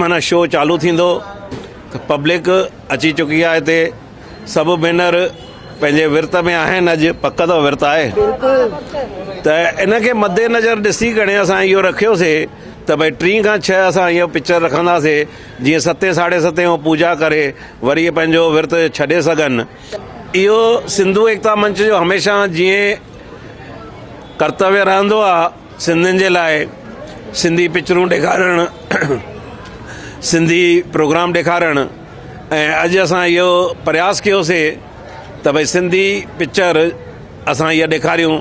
معنيٰ شو چالو ٿيندو ته پبلڪ اچي چڪي آهي هتي سڀ ڀينر پنهنجي ورت ۾ آهن اڄ پڪ اٿو ورت آهي ته ان کي مد نظر ڏسي ڪري اسان اهو رکيوسي ته ڀائی ٽي کان ڇهه اسان اهو پڪچر رکنداسي جيئن ستين ساڍي ستين هو پوجا ڪري وري پنهنجو ورت ڇڏي سگهن اهو سنڌو ايڪتا منچ جو هميشه جيئن ڪرتويه رهندو آهي سنڌين جي لاء سنڌي پڪچرون ڏيکارڻ سنڌي پروگرام ڏيکارڻ ۽ اڄ اسان اهو پرياس ڪيوسي ته ڀائی سنڌي پڪچر اسان اها ڏيکاريون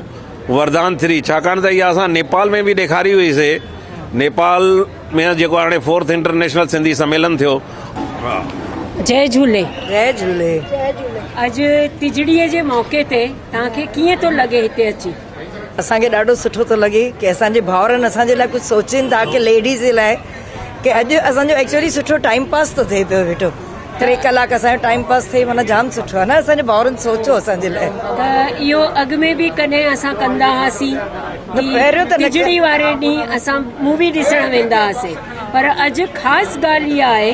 وردان ٿري ڇاڪاڻ ته اها اسان نيپال ۾ به ڏيکاري هئي سي نيپال ۾ جيڪو هاڻي فورٿ انٽرنيشنل سنڌي سميلن ٿيو جي جهولي جي جهولي اڄ تجڙي جي موقعي تي توهان کي ڪيئن ٿو لڳي هتي اچي. اسان کي ڏاڍو سٺو ٿو لڳي ڪي اسان جي ڀاورن اسان جي لاء ڪجھ سوچين ٿا ڪي ليڊيز جي لاء ڪي اڄ اسان جو ايڪچولي سٺو ٽائيم پاس ٿو ٿئي پيو ويٺو ٽي ڪلاڪ اسان جو ٽائيم پاس ٿئي معنيٰ جام سٺو آ نه اسان جي ڀاورن سوچو اسان جي لاء ته اهو اڳ ۾ به ڪڏهن اسان ڪندا هئاسين پهريون ته ٽجڙي واري ڏينهن اسان مووي ڏسڻ ويندا هئاسين پر اڄ خاص ڳالھ اها آهي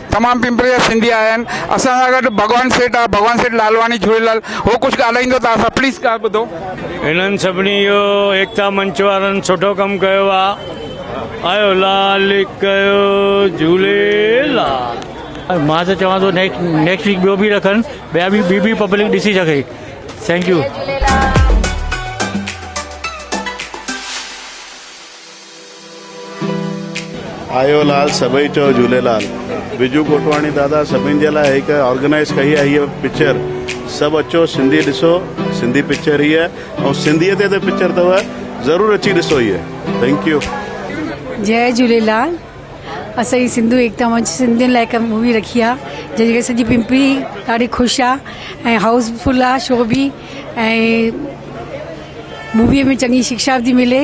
تمام پنپري جا سنڌي آيا آهن اسان سان گڏ ڀڳوان سيٺ آ ڀڳوان سيٺ لالواڻي جھوليلال هو ڪجھ ڳالهائيندو ته اسان پليز ڳالھ ٻڌو. انهن سڀني جو ايڪتا منچ وارن سٺو ڪم ڪيو آ آيو لال ڪيو جھوليلال. مان ته چوان ٿو نيڪسٽ ويڪ ٻيو به رکن ٻيا به ٻي به پبلڪ ڏسي سگهي ٿينڪ يو. آيو لال سڀئي چئو جهوليلال. بجو کوٽواڻي دادا سڀني جي لاء هڪ آرگنائيز ڪئي آهي هيء پڪچر سڀ اچو سنڌي ڏسو سنڌي پڪچر هيء ۽ سنڌيء تي ته پڪچر اٿو ضرور اچي ڏسو هيء ٿينڪ يو. جئي جهوليلال اسان جي سنڌو ايڪتا منچ سنڌين لاء هڪ مووي رکي آ جنهن جي ڪري سڄي پمپلي ڏاڍي خوش آ ۽ هائوس فل آ شو به ۽ مووي ۾ چڱي شڪشا به ٿي ملي.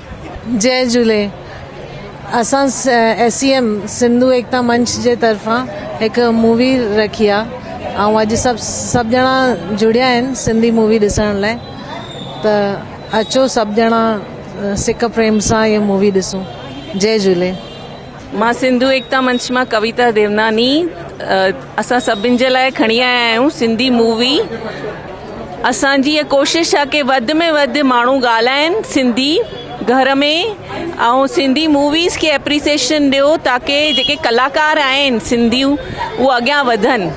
جئي جهولي اسان S C M Sindhu Ekta Manch جي طرفان هڪ مووي رکي آ ۽ اڄ سڀ سڀ ڄڻا جڙيا آهن سنڌي مووي ڏسڻ لاء ته اچو سڀ ڄڻا سڪ پريم سان هي مووي ڏسون جئي جهولي. مان سنڌو ايڪتا منچ مان ڪويتا ديوناني اسان سڀن جي لاء کڻي آيا آهيون سنڌي مووي اسان جي ڪوشش آهي ڪي وڌ ۾ وڌ ماڻهو ڳالهائين سنڌي گهر ۾ ۽ سنڌي موويز کي اپريسيشن ڏيو تاڪي جيڪي ڪلاڪار آهن سنڌيون اهو اڳيان وڌن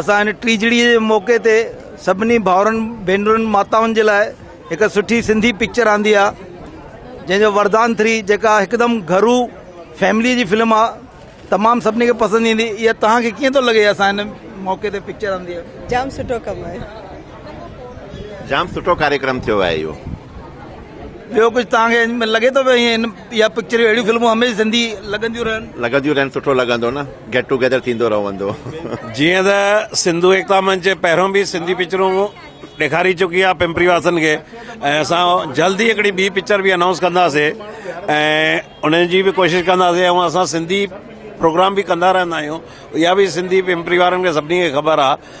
اسان هن ٽيجڙيء جي موقعي تي سڀني ڀائرن ڀينرن ماتائن جي لاء هڪ سٺي سنڌي پڪچر آندي آ جنهن جو وردان ٿري جيڪا هڪدم گهرو فيملي جي فلم آ تمام سڀني کي پسند ايندي اها توهان کي ڪيئن ٿو لڳي اسان هن موقعي تي پڪچر آندي آ جام سٺو ڪم آهي جام سٺو ڪاريڪرم ٿيو آهي اهو ٻيو ڪجهه توهان کي لڳي ٿو هن اها پڪچريون اهڙيون فلمون هميشه زندي لڳنديون رهن. لڳنديون رهن سٺو لڳندو نه گيٽ ٽو گيدر ٿيندو رهندو. جيئن ته سنڌو ايڪتا منچ پهريون به سنڌي پڪچرون ڏيکاري چڪي آهي پمپري واسن کي ۽ اسان جلد ئي هڪڙي ٻي پڪچر به انائونس ڪنداسي ۽ ان جي به ڪوشش ڪنداسي ۽ اسان سنڌي پروگرام به ڪندا رهندا آهيون اها به سنڌي پمپري وارن کي سڀني کي خبر آهي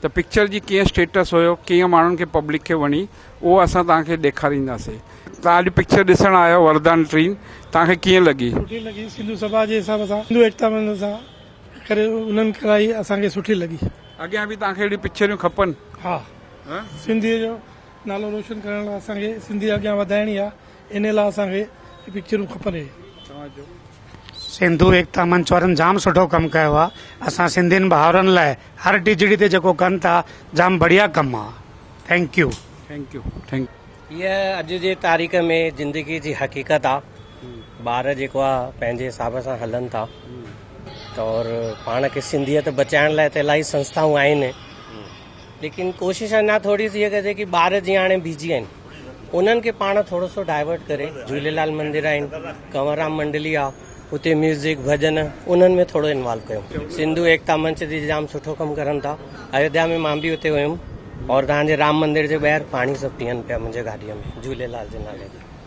ته پڪچر جي ڪيئن اسٽيٽس هيو ڪيئن ماڻهن کي پبلڪ کي وڻي اهو اسان توهان کي ڏيکارينداسي. توهان اڄ پڪچر ڏسڻ آيا آهيو وردان ٽين توهان کي ڪيئن لڳي. سٺي لڳي سنڌو سڀا جي حساب سان سنڌو ايڪتا مندر سان ڪري انهن ڪرائي اسان کي سٺي لڳي. اڳيان به توهان کي اهڙيون پڪچريون کپن. ها سنڌي جو نالو روشن ڪرڻ لاء اسان کي سنڌي اڳيان وڌائڻي آهي انهي لا اسان کي هي پڪچرون کپن هي توهان جو سنڌو ايڪتا منچ وارن جام سٺو ڪم ڪيو آ اسان سنڌين ڀائرن لاء هر ڊجڙي تي جيڪو ڪن ٿا جام بڙيا ڪم آ thank you. Thank you thank. هيء اڄ جي تاريخ ۾ زندگي جي حقيقت آ ٻار جيڪو آ پنهنجي حساب سان هلن ٿا تور پاڻ کي سنڌيت بچائڻ لاء ته الاهي سنسٿائون آهن ليڪن ڪوشش اڃا ٿوري ٿي ڪجي ڪي ٻار جي هاڻي بيجي آهن انهن کي پاڻ ٿورو سو ڊائيورٽ ڪري جھوليلال مندر آهن ڪنورام منڊلي آ اتي ميوزڪ ڀڄن انهن ۾ ٿورو انوالو ڪيو سنڌو ايڪتا منچ جي جام سٺو ڪم ڪرن ٿا ايوڌيا ۾ مان به اتي ويم اور تهان جي رام مندر جي ٻاهر پاڻي سڀ پيئن پيا منهنجي گاڏي ۾ جھوليلال جي نالي تي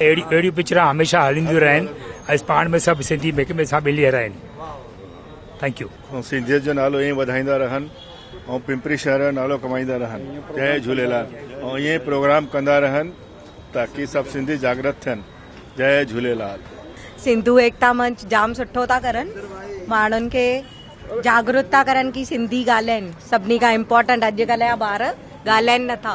اهڙيون اهڙيون پڪچران هميشه هلنديون رهن ۽ پاڻ ۾ سڀ سنڌي هڪ ٻئي سان ملي رهن ٿينڪ يو. ۽ سنڌيت جو نالو ائين وڌائيندا رهن ۽ پمپري شهر جو نالو ڪمائيندا رهن جئي جهوليلال ۽ ائين پروگرام ڪندا رهن تاڪي سڀ سنڌي جاگرت ٿين جئي جهوليلال. سنڌو ايڪتا منچ جام سٺو ٿا ڪرن ماڻهن کي جاگروت ٿا ڪرن ڪي سنڌي ڳالهائين سڀني کان امپورٽنٽ اڄڪلهه جا ٻار ڳالهائين نٿا.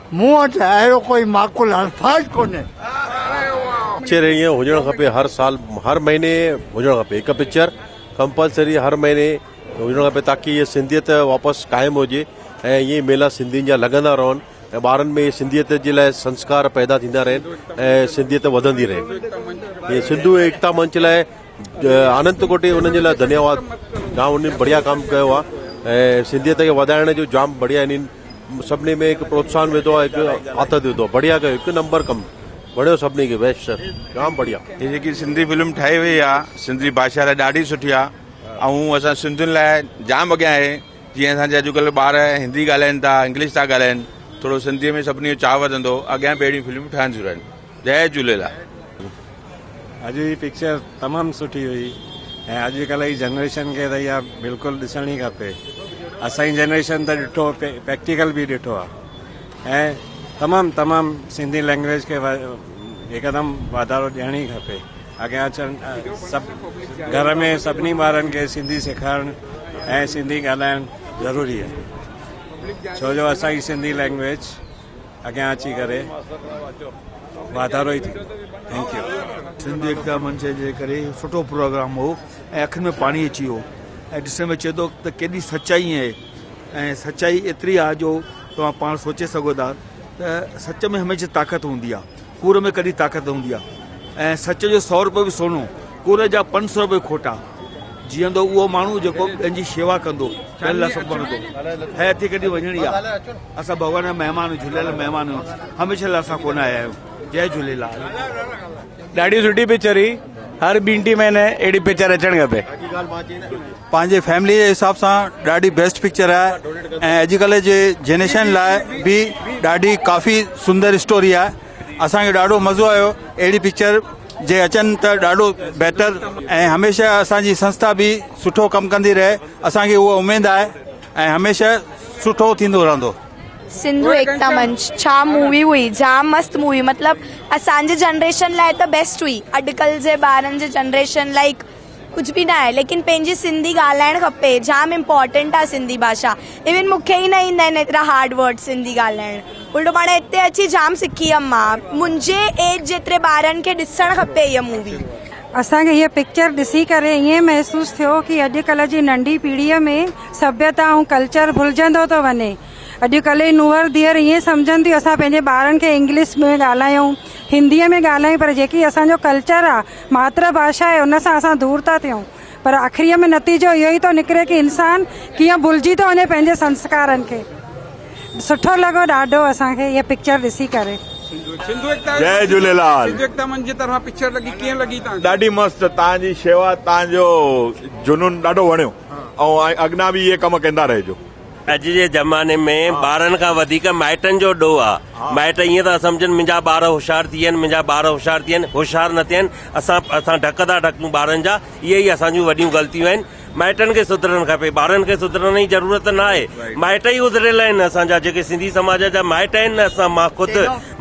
مون وٽ اهڙو ڪوئي معقول الفاظ ڪونهي. پڪچر ائين هجڻ کپي هر سال هر مهيني هجڻ کپي هڪ پڪچر ڪمپلسري هر مهيني هجڻ کپي تاڪي هي سنڌيت واپس قائم هجي ۽ ائين ميلا سنڌين جا لڳندا رهن ۽ ٻارن ۾ سنڌيت جي لاء سنسڪار پيدا ٿيندا رهن ۽ سنڌيت وڌندي رهي ۽ سنڌو ايڪتا منچ لاء آنند ترڪوٽي انهن جي لاء ڌنيواد جام انهن بڙيا ڪم ڪيو آ ۽ سنڌيت کي وڌائڻ جو جام بڙيا انهن سڀني ۾ هڪ پروتساهن وڌو آ هڪ آٿت وڌو آ بڙيا ڪيو هڪ نمبر ڪم وڻيو سڀني کي بيسٽ سر جام بڙيا هي جيڪي سنڌي فلم ٺاهي وئي آ سنڌي بادشاهه لاء ڏاڍي سٺي آ ۽ اسان سنڌين لاء جام اڳيان آهي جيئن اسان جي اڄڪلهه ٻار هندي ڳالهائين ٿا انگلش ٿا ڳالهائين ٿورو سنڌي ۾ سڀني جو چاهه وڌندو اڳيان به اهڙيون فلمون ٺهنديون رهن جي جهليلال. اڄ جي پڪچر تمام سٺي هئي ۽ اڄ ڪلهه جي جنريشن کي ته اها بلڪل ڏسڻ ئي کپي اسان جي جنريشن ته ڏٺو پريڪٽيڪل به ڏٺو آهي ۽ تمام تمام سنڌي لينگويج کي هڪدم واڌارو ڏيڻ ئي کپي اڳيان اچڻ سڀ گهر ۾ سڀني ٻارن کي سنڌي سيکارڻ ۽ سنڌي ڳالهائڻ ضروري آهي ڇو جو اسان جي سنڌي لينگويج اڳيان اچي ڪري واڌارو ئي ٿيندو ٿينڪ يو. سنڌ ايڪتا منچ جي ڪري سٺو پروگرام هو ۽ اکين ۾ پاڻي اچي ويو ۽ ڏسڻ ۾ اچي ٿو ته ڪيڏي سچائي اهي ۽ سچائي ايتري آ جو توهان پاڻ سوچي سگهو ٿا ته سچ ۾ هميشه طاقت هوندي آ. ڪوڙ ۾ ڪڏي طاقت هوندي آ ۽ سچ جو سؤ روپيو به سونو، ڪوڙ جا پنج سؤ روپيو کوٽا. جيئندو اهو ماڻهو جيڪو ٻين جي شيوا ڪندو، ٻين لاء سڀ ڀرندو. هيء هٿي ڪڍي وڃڻي آ. اسان ڀڳوان جا مهمان آهيون، جهليل جا مهمان آهيون. هميشه لاء اسان ڪونه آيا آهيون. جئه جهليلال. ڏاڍي سٺي پڪچر هئي. هر ٻين ٽي مهيني اهڙي پڪچر اچڻ کپي. پنهنجي فيملي جي حساب سان ڏاڍي بيسٽ پڪچر آهي ۽ اڄ ڪلهه جي جينيشن لاء به ڏاڍي ڪافي سندر اسٽوري آهي اسان کي ڏاڍو مزو آيو اهڙي پڪچر جي اچن ته ڏاڍو بهتر ۽ هميشه اسان جي سنسٿا به سٺو ڪم ڪندي رهي اسان کي اها اميد آهي ۽ هميشه سٺو ٿيندو رهندو. سنڌو ايڪتا منچ ڇا مووي هئي جام مست مووي مطلب اسان جي جنريشن لاء ته بيسٽ هئي اڄ ڪل جي ٻارن جي جنريشن لاء ڪجھ به ناهي ليڪن پنهنجي سنڌي ڳالهائڻ کپي جام امپورٽنٽ آ سنڌي باشا ايون مونکي ئي نه ايندا آهن ايترا هارڊ ورڊ سنڌي ڳالهائڻ الٽو پاڻ هتي اچي جام سکي ويم مان منهنجي ايج جيتري ٻارن کي ڏسڻ کپي هيء مووي. اسان کي هيء پڪچر ڏسي ڪري ائين محسوس ٿيو ڪي اڄ ڪل جي ننڍي پيڙهي ۾ سڀيتا ۽ ڪلچر ڀلجندو ٿو وڃي اڄڪلهه جي نونهر ڌيئر ائين سمجهن ٿيون اسان پنهنجي ٻارن کي انگلش ۾ ڳالهايون هندي ۾ ڳالهايون پر جيڪي اسان جو ڪلچر آ ماتر ڀاشا آهي ان سان اسان دور ٿا ٿيون پر آخري ۾ نتيجو اهو ئي ٿو نڪري ڪي انسان ڪيئن ڀلجي ٿو وڃي پنهنجي سنسڪارن کي سٺو لڳو ڏاڍو اسان کي هي پڪچر ڏسي ڪري جي جهليلال ڏاڍي مست تان جي شيوا تان جو جنون ڏاڍو وڻيو. ۽ اڳنا به اهي ڪم ڪندا رهجو. اڄ جي زماني ۾ ٻارن کان وڌيڪ مائٽن جو ڏوهه آ. مائٽ ائين ٿا سمجهن منهنجا ٻار هوشيار ٿي ويا آهن منهنجا ٻار هوشيار ٿي ويا آهن هوشيار نه ٿيا آهن اسان اسان ڍڪ ٿا ڍڪون ٻارن جا اهي ئي اسان جون وڏيون غلطيون آهن مائٽن کي سڌرڻ کپي ٻارن کي سڌرڻ جي ضرورت نه آهي مائٽ ئي اڌريل آهن اسان جا جيڪي سنڌي سماج جا مائٽ آهن نه اسان مان خود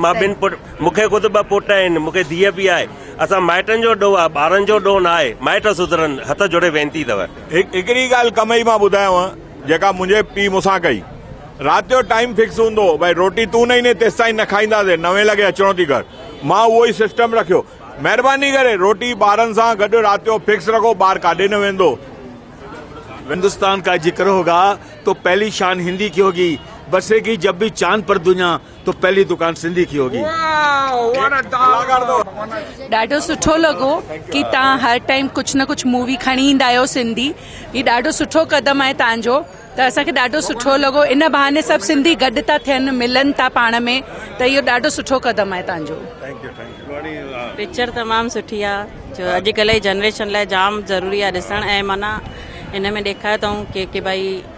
مان ٻن پٽ مون کي خود ٻه پٽ آهن مون کي ڌيء به آهي اسان مائٽن جو ڏوهه آهي ٻارن جو ڏوهه نه آهي مائٽ سڌرن هٿ جوڙي وينتي اٿو. هڪڙي ڳالهه ڪمئي مان ٻڌايانء جيڪا منهنجي پيء مون سان ڪئي. رات جو ٽائيم فڪس هوندو هو ڀائي روٽي تون نه ايندين تيستائين نه کائينداسين نوين لڳي اچڻو ٿي گهر. مان اهو ئي سسٽم رکيو. مهرباني ڪري روٽي ٻارن سان گڏ رات جو فڪس رکو ٻار ڪاڏي نه ويندو. هندستان ڪا ذڪر هوگا تو پهلي شان هندي ڪي هوگي بسيگي جب به چاند پر دنيا. تو پهلي دڪان سنڌي ڪي هوگي. ڏاڍو سٺو لڳو ڪي تان هر ٽائيم ڪجھ نه ڪجھ مووي کڻي ايندا آهيو سنڌي هي ڏاڍو سٺو قدم آهي تان جو ته اسان کي ڏاڍو سٺو لڳو ان بهاني سڀ سنڌي گڏ ٿا ٿين ملن ٿا پاڻ ۾ ته اهو ڏاڍو سٺو قدم آهي تان جو. پڪچر تمام سٺي آ جو اڄ ڪلهه جي جنريشن لاء جام ضروري آ ڏسڻ ۽ معنيٰ ان ۾ ڏيکاريو اٿئون ڪي ڪي ڀائي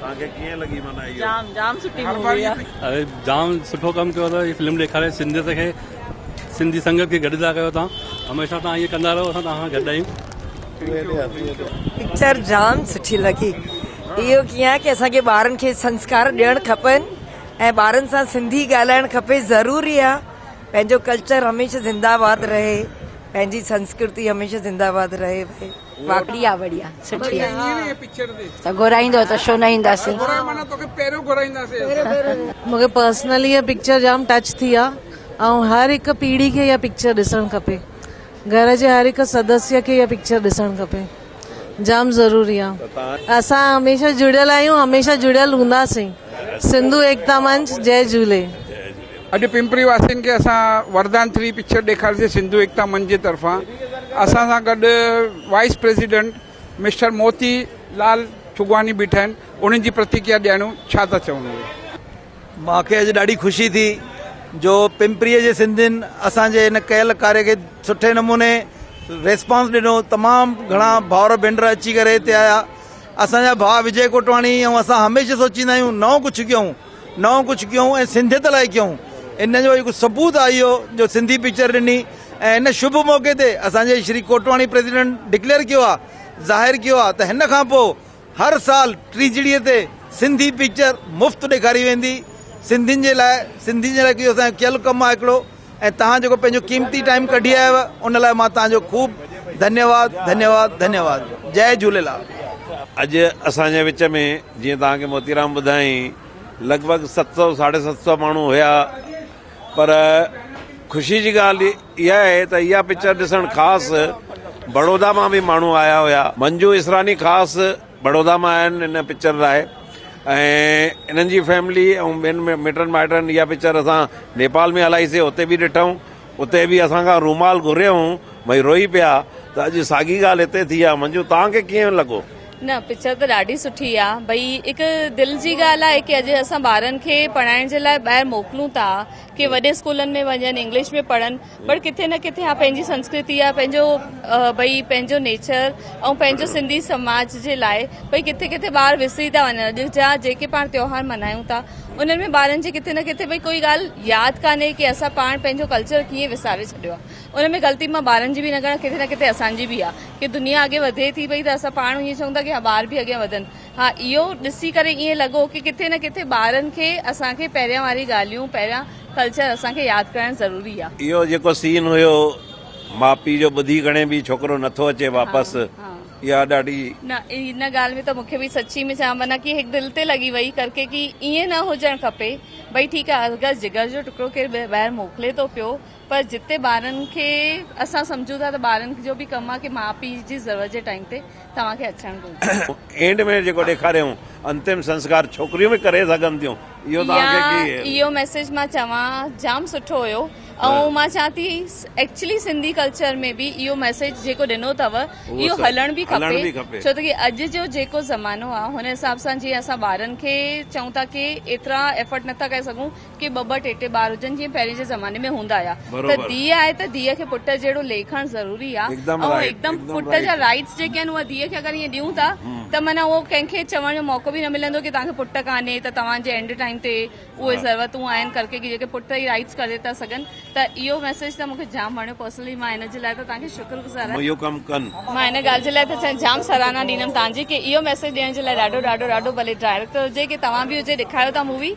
توهان کي ڪيئن لڳي معنيٰ اهو. جام جام سٺي مووي آ. اري جام سٺو ڪم ڪيو اٿو هي فلم ڏيکاري سنڌيت کي سنڌي سنگت کي گڏ ٿا ڪيو توهان هميشه توهان ائين ڪندا رهو اسان توهان سان گڏ آهيون. پڪچر جام سٺي لڳي اهو ڪيئن آهي ڪي اسان کي ٻارن کي سنسڪار ڏيڻ کپن ۽ ٻارن سان سنڌي ڳالهائڻ کپي ضروري آ پنهنجو ڪلچر هميشه زنده آباد رهي پنهنجي سنسڪرتي هميشه زنده آباد رهي واقعي بڙيا سٺي ته گهرائيندو ته شو نه اينداسي مونکي پرسنلي هي پڪچر جام ٽچ ٿي آ ۽ هر هڪ پيڙهي کي هي پڪچر ڏسڻ کپي گهر جي هر هڪ سدسيه کي هي پڪچر ڏسڻ کپي جام ضروري آ اسان هميشه جڙيل آهيون هميشه جڙيل هونداسين سنڌو ايڪتا منچ جي جهولي اڄ پمپري واسين کي اسان وردان ٿري پڪچر ڏيکارسي سنڌو ايڪتا منچ جي طرفان اسان سان گڏ vice president mister Moti Lal ٺڳواڻي بيٺا آهن انهن جي پرتڪريا ڏيڻو ڇا ٿا چون اهي مان کي اڄ ڏاڍي خوشي ٿي جو پمپري جي سنڌين اسان جي ان ڪيل ڪاري کي سٺي نموني ريسپانس ڏنو تمام گھڻا ڀاور ڀينڊر اچي ڪري هتي آيا اسان جا ڀاء وجي ڪوٽواڻي ۽ اسان هميشه سوچيندا آهيون نئون ڪجھه ڪيون نئون ڪجهه ڪيون ۽ سنڌيت لاء ڪيون ان جو هڪ ثبوت آهي اهو جو سنڌي پڪچر ڏني ۽ هن شڀ موقعي تي اسان جي شري ڪوٽواڻي پريزيڊنٽ ڊڪليئر ڪيو آهي ظاهر ڪيو آهي ته هن کان پوء هر سال ٽيجڙي تي سنڌي پڪچر مفت ڏيکاري ويندي سنڌين جي لاء سنڌين جي لاء اهو اسان جو ڪيل ڪم آهي هڪڙو ۽ توهان جيڪو پنهنجو قيمتي ٽائيم ڪڍي آيو ان لاء مان توهان جو خوب ڌنيواد ڌنيواد ڌنيواد جي جهوليلال. اڄ اسان جي وچ ۾ جيئن توهان کي موتيرام ٻڌايائين لڳ ڀڳ ست سؤ ساڍي ست سؤ ماڻهو هيا پر خوشي جي ڳالهه اها آهي ته اها پڪچر ڏسڻ خاص بڙودا مان به ماڻهو آيا هيا منجو اسراني خاص بڙودا مان آيا آهن ان پڪچر لاء ۽ انهن جي فيملي ۽ ٻين مٽن مائٽن اها پڪچر اسان نيپال ۾ هلائي سي اتي به ڏٺائون اتي به اسان کان رومال گهريائون ڀئي روئي پيا ته اڄ ساڳي ڳالهه هتي ٿي آهي منجو توهان کي ڪيئن لڳو؟ نه پڪچر ته ڏاڍي سٺي آ ڀئي هڪ دل جي ڳالهه آ ڪي اڄ اسان ٻارن کي پڙهائڻ جي لاء ٻاهر موڪلون ٿا ڪي وڏي اسڪولن ۾ وڃن انگلش ۾ پڙهن پر ڪٿي نه ڪٿي ها پنهنجي سنسڪرتي يا پنهنجو ڀئي پنهنجو نيچر ۽ پنهنجو سنڌي سماج جي لاء ڀئي ڪٿي ڪٿي ٻار وسري ٿا وڃن اڄ جا جيڪي پاڻ تيوهار ملهايون ٿا انهن ۾ ٻارن جي ڪٿي نه ڪٿي ڀئي ڪوئي ڳالهه ياد ڪانهي ڪي اسان پاڻ پنهنجو ڪلچر ڪيئن وساري ڇڏيو آهي ان ۾ غلطي مان ٻارن جي به نه ڪرڻ ڪٿي نه ڪٿي اسان جي به آهي ڪي دنيا اڳي وڌي ٿي ڀئي ته اسان پاڻ ائين چون ٿا ڪي ها ٻار به اڳي وڌن ها اهو ڏسي ڪري ائين لڳو ڪي ڪٿي نه ڪٿي ٻارن کي اسان کي پهريان واري ڳالهيون پهريان ڪلچر اسان کي ياد ڪرائڻ ضروري آ. اهو جيڪو سين هيو ماء پي جو ٻڌي گهڻي به ڇوڪرو نٿو اچي واپس اها ڏاڍي. نه ان ڳالهه ۾ ته مونکي به سچي ۾ چيان معنيٰ ڪي هڪ دل تي لڳي وئي ڪرڪي ڪي ائين نه هجڻ کپي ڀئي ٺيڪ آ اگر جگر جو ٽڪرو ڪير ٻاهر موڪلي ٿو پيو پر جتي ٻارن کي اسان سمجهون ٿا ته ٻارن جو به ڪم آهي ڪي ماء پي جي ضرورت جي ٽائيم تي توهان کي اچڻ گهرجي. اينڊ ۾ جيڪو ڏيکاريائون انتم سنسڪار ڇوڪريون به ڪري سگهن ٿيون اهو توهان کي ڪي. يا اهو ميسيج مان چوان جام سٺو هيو ۽ مان چوان ٿي ايڪچلي سنڌي ڪلچر ۾ به اهو ميسيج جيڪو ڏنو اٿو اهو هلڻ به کپي ڇو ته ڪي اڄ جو جيڪو زمانو آهي هن حساب سان جي اسان ٻارن کي چئون ٿا ڪي ايترا ايفرٽ نٿا ڪري سگهون ڪي ٻه ٻه ٽي ٽي ٻار هجن جيئن پهرين جي زماني ۾ هوندا هيا ته ڌيء آهي ته ڌيء کي پٽ جهڙو ليکڻ ضروري آهي ۽ هڪدم پٽ جا رائيٽس جيڪي آهن اهي ڌيء کي اگر ائين ڏيون ٿا ته معنيٰ اهو ڪنهن کي چوڻ جو موقعو به نه ملندو ڪي توهانکي پٽ ڪانهي ته توهان جي اينڊ ٽائيم تي اهي ضرورتون آهن ڪرڪي ڪي جيڪي پٽ ئي رائيٽس ڪري ٿا سگهن ته اهو ميسيج ته مونکي جام وڻيو پرسنلي مان هن جي لاء ته توهانکي شڪر گذار آهيان اهو ڪم ڪن مان هن ڳالهه جي لاء ته جام سراهنا ڏيندم توهانجي ڪي اهو ميسيج ڏيڻ جي لاء ڏاڍو ڏاڍو ڏاڍو ڀلي ڊائريڪٽر هجي ڪي توهان به هجي ڏيکاريو ٿا مووي